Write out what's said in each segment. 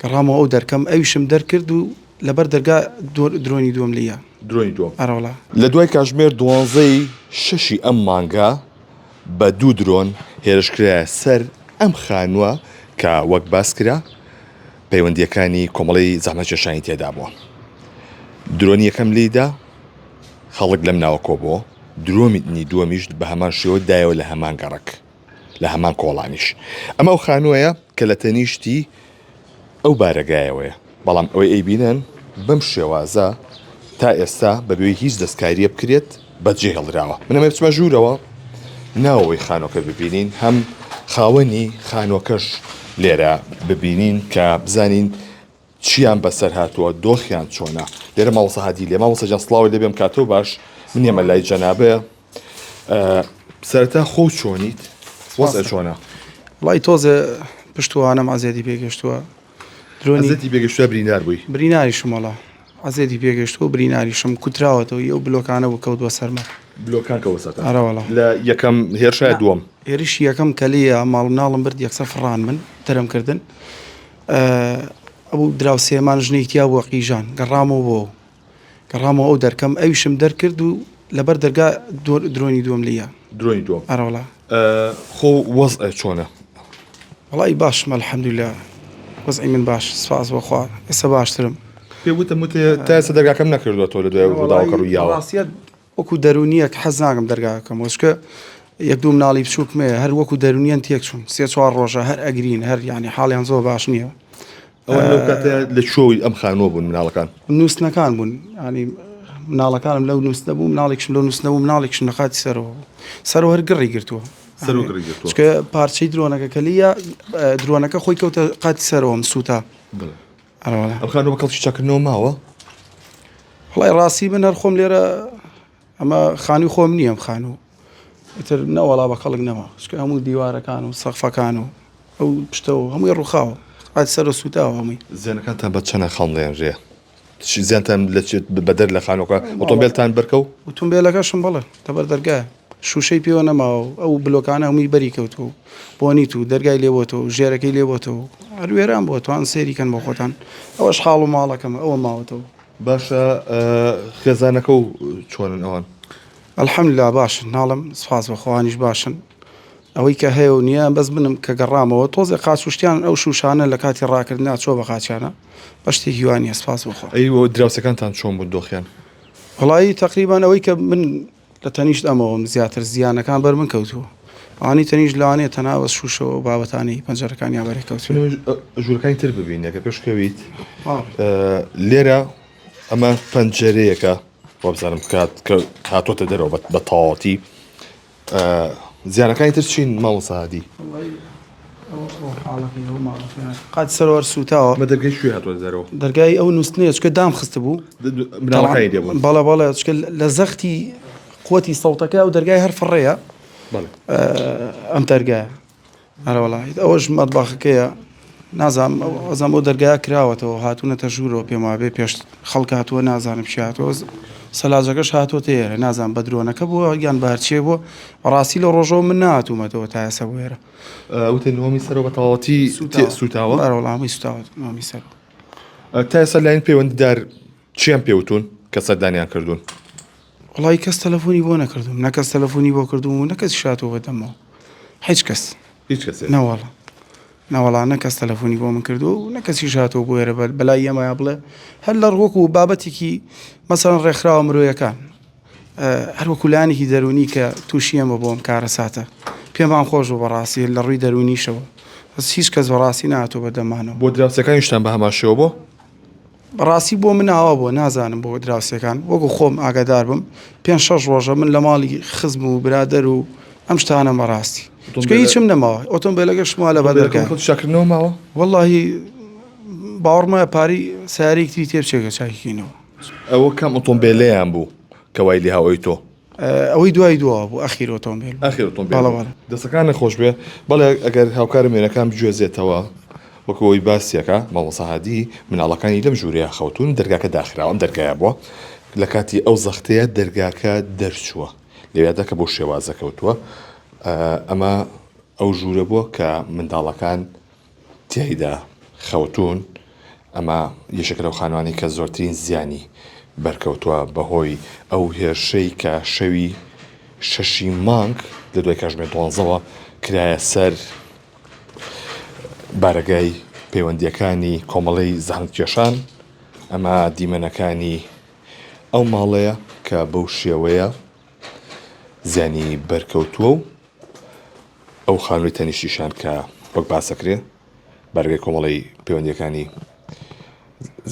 گەڕامەوە ئەو دەرکەم ئەویشم دەرکرد و لەبەر دەرگا درۆنی دووەم لیا. درۆنی دووەم؟ ئەرە وەڵا. لە دوای کاتژمێر دوانزە ی شەشی ئەم مانگە بە دوو درۆن هێرش کرایە سەر ئەم خانووە کە وەک باس کرا پەیوەندییەکانی کۆمەڵەی زەحمەتکێشانی تێدا بووە. درۆنی یەکەم لێی دا، خەڵک لەم ناوە کۆبۆوە، درۆنی دووەمیش بە هەمان شێوە دایەوە لە هەمان گەڕەک. لە هەمان کۆڵانیش. ئەمە ئەو خانووەیە کە لە تەنیشتی ئەو بارەگایەوەیە، بەڵام ئەوەی ئەیبینن بەم شێوازە تا ئێستا بەبێ هیچ دەستکارییە بکرێت بەجێهێڵدراوە. من ئەمە بچمە ژوورەوە ناوەوەی خانووەکە ببینین، هەم خاوەنی خانووەکەش لێرە ببینین کە بزانین چیان بەسەر هاتووە دۆخیان چۆنە لێرە مامۆسا هادی لێ مامۆسا جان سڵاوی لێ بێم کاتۆ باش من ئێمە لای جەنابێ سەرەتا خۆ چۆنیت وەزع چۆنە وڵی تۆزێ پشتوانم ئازیادی پێگەشتووە درۆنیزەتی پێگەشتە برینار بووی بریناری شمەڵە ئازێتی پێگەشتووە بریناری شم کوتراوەتەوە ئەو بلۆکانە بوو کەوت بە سەرمە بلۆکان کەوەسەر ئەرەوەڵە لە یەکەم هێرشای دووەم هێرش یەکەم کەلیە ماڵ مناڵم برد یەکسە فڕان من تەرم کردن ئەبوو دراوسێمان ژنێکی تیا بووە قیژان گەڕامەوە بۆ گەڕامەوە ئەو دەرکەم ئەویشم دەرکرد و لەبەر دەرگا درۆنی دووەم لە درۆی دووە ئەرەوەڵا خۆ وەز چۆنە وڵی باشمە الحەمدولا وەزعی من باش سپاس بەخوا ئێستا باشترم پێ وتم وتێ تاسە دەرگاکەم نەکردوە تۆ لە دوای ڕووداوەکە ڕوویاوە ڕاستیت وەکو دەرونیەک حەز ناکەم دەرگاکە کەمەوە چکە یەک دوو مناڵی بچووکم هەیە هەر وەکو دەرونیان تێک چوون سێ چوار ڕۆژە هەر ئەگرین هەر ینی حاڵیان زۆر باش نییە لە چۆی ئەم خانوە بوون مناڵەکان نووسنەکان بوون ینی مناڵەکانم لەو نووسنە بوو مناڵێکشم لەو نووسنە بوو مناڵێکشم لە قاتی سەرەوە سەرۆ هەر گڕی گرتووە پارچەی درۆنەکە کە لیە درۆنەکە خۆی کەوتە قاتی سەرەوەم سووتا ئەم خانوە بە کەڵکی چاکردنەوە ماوە خڵای ڕاستی من هەر خۆم لێرە ئەمە خانی خۆم نییەم خان و ئیتر نەوەڵا بە کەڵک نەما شکە هەموو دیوارەکان و سەخفەکان و ئەو پشتەوە هەمووی ڕووخاوە ئات سەر و سوتاوە هەمووی زیانەکانتان بە چەنە خەڵڵێن ڕێ زیانتان لەچێت بەدەر لە خانۆکە ئۆتۆمبیلتان بەرکە و ئۆتۆمبیلەکەشم بڵێ تەبەر دەرگایە شوشەی پێوە نەماوە و ئەو بلۆکانە هەمووی بەری کەوتووە و بۆنیت و دەرگای لێبۆتەوە و ژێرەکەی لێبۆتەوە و هەر وێران بووە توان سێری کەن بۆ خۆتان ئەوەش حاڵ و ماڵەکەمە ئەوە ماوەتەوە باشە خێزانەکە و چۆنن ئەوان الحمدللا باشن ناڵم سپاس بەخۆوانیش باشن ئەوەی کە هەیە و نییە بەس بنم کە گەڕامەوە تۆزێ قاچشتیان ئەو شوشانە لە کاتی ڕاکردنا چۆ بە قاچانە بە شتی هیوانیە سپاس بخۆ ئەی دراوسەکانتان چۆن بوو دۆخیان وڵایی تقریبان ئەوەی کە من لە تەنیشت ئەمەوەم زیاتر زیانەکان بەر من کەوتووە. ئەوانەی تەنیشت لەوانەیە تەنها بەس شووشەوە و بابەتانی پەنجەرەکانیان بەرێ کەوتووە. تکایە ژوورەکانی تر ببینە کە پێش کەویت. لێرە ئەمە پەنجەرەیەکە وابزانم کات کە هاتووەتە دەرەوە بە تەواوەتی. زیانەکانی تر چین مامۆستا هادی؟ قات سەروار سووتاوە. بە دەرگای کوێ هاتووە دەرەوە؟ دەرگای ئەو نووستنەیە چکە دام خست بوو بناڵەکانی دێ بوون بەڵە بەڵێ چکە لە زەختی قوتی سەوتەکە ئەو دەرگای هەر فڕەیە ئەم دەرگایە ئەرەوەڵیت ئەوەش مەدباخەکەیە نازانم ئەزان بۆ دەرگای کراوەتەوە هاتوونەتە ژوورەوە پێم وابێ پێش خەڵک هاتووە نازانم شاتۆز سەلاجەکەش هاتووە تێرە نازان بە درۆنەکە بووە یان بارچێ بووە بەڕاستی لە ڕۆژەوە من ناتوومەتەوە تا ئێسە بوێرە وتە نۆمی سەرەوە بە تەواتی سوتاوە ئەرەوەڵامی سوتاوت نۆمی سەر تا ئێستا لاین پەیوەنددار چیان پێوتون کە سەردانیان کردوون وڵی کەس تەلەفۆنی بۆ نەکردوم نەکەس تەلەفۆنی بۆ کردوم و نەکەس شاتەوە بەدەمەوە هیچ کەس هیچ کەس نەوەڵە نەوەڵا نەکەس تەلەفۆنی بۆ من کردو و نەکەسی شاتەوە بۆ ێرە بەر بەلای ئەمە بڵێ هەر لە ڕۆک و بابەتێکی مەسەن ڕێکخراوە مرۆیەکان هەر وەکو لایەنێکی دەروونی کە تووشی ئەمە بووم کارەساتە پێمان خۆش بوو بەڕاستی لە ڕووی دەروونیشەوە بەس هیچ کەس بەڕاستی ناتۆ بە دەمانەوە بۆ دراوسێکانیشتان بە هەمان شێوە بۆ؟ بەڕاستی بۆ من ئاوا بووە نازانم بۆ دراوسێکان وەکو خۆم ئاگادار بم پێنج شەش ڕۆژە من لە ماڵی خزم و برادەر و ئەم شتانەم بەڕاستی چونکە ئۆتۆمبێلە- هیچم نەماوە ئۆتۆمبیلەکەشم وا لە بەر دەرگای خۆت شاکردنەوە ماوە؟ وەڵاهی باوەڕمە پارەی سەیارەیەکتری تێ بچێ کە چاکی کەینەوە ئەوە کام ئۆتۆمبێلەیان بوو کە وای لێ هاوەی تۆ؟ ئەوەی دوای دوا بوو ئەخیر ئۆتۆمبیل ئەخیر ئۆتۆمبیل دەسەکان نەخۆش بێ بەڵێ ئەگەر هاوکارە مێنەکان بگوێزێتەوە وەکەوەی باسیەکە مامۆساهادی مناڵەکانی لەم ژوورەیە خەوتون دەرگاکە داخراوە ئەم دەرگایە بووە لە کاتی ئەو زەختەیە دەرگاکە دەرچووە لەوێدا کە بۆ شێوازە کەوتووە ئەمە ئەو ژوورە بووە کە منداڵەکان تیایدا خەوتوون، ئەمە یەکێکە لەو خانوانەی کە زۆرترین زیانی بەرکەوتووە بەهۆی ئەو هێرشەی کە شەوی شەشی مانگ لە دوای کاژمێر دوانزەوە کرایە سەر بارەگای پەیوەندییەکانی کۆمەڵەی زەحمەتکێشان ئەمە دیمەنەکانی ئەو ماڵەیە کە بەو شێوەیە زیانی بەرکەوتووە و ئەو خانووی تەنیشتی شان کە وەک باس دەکرێت بەرگەی کۆمەڵی پەیوەندیەکانی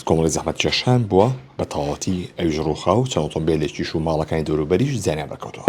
کۆمەڵی زەحمەت کێشان بووە بە تەواوەتی ئەویش ڕووخا و چاوتۆم بێ لێکیش و ماڵەکانی دەوروبەریش زیانیان بەکەوتەوە.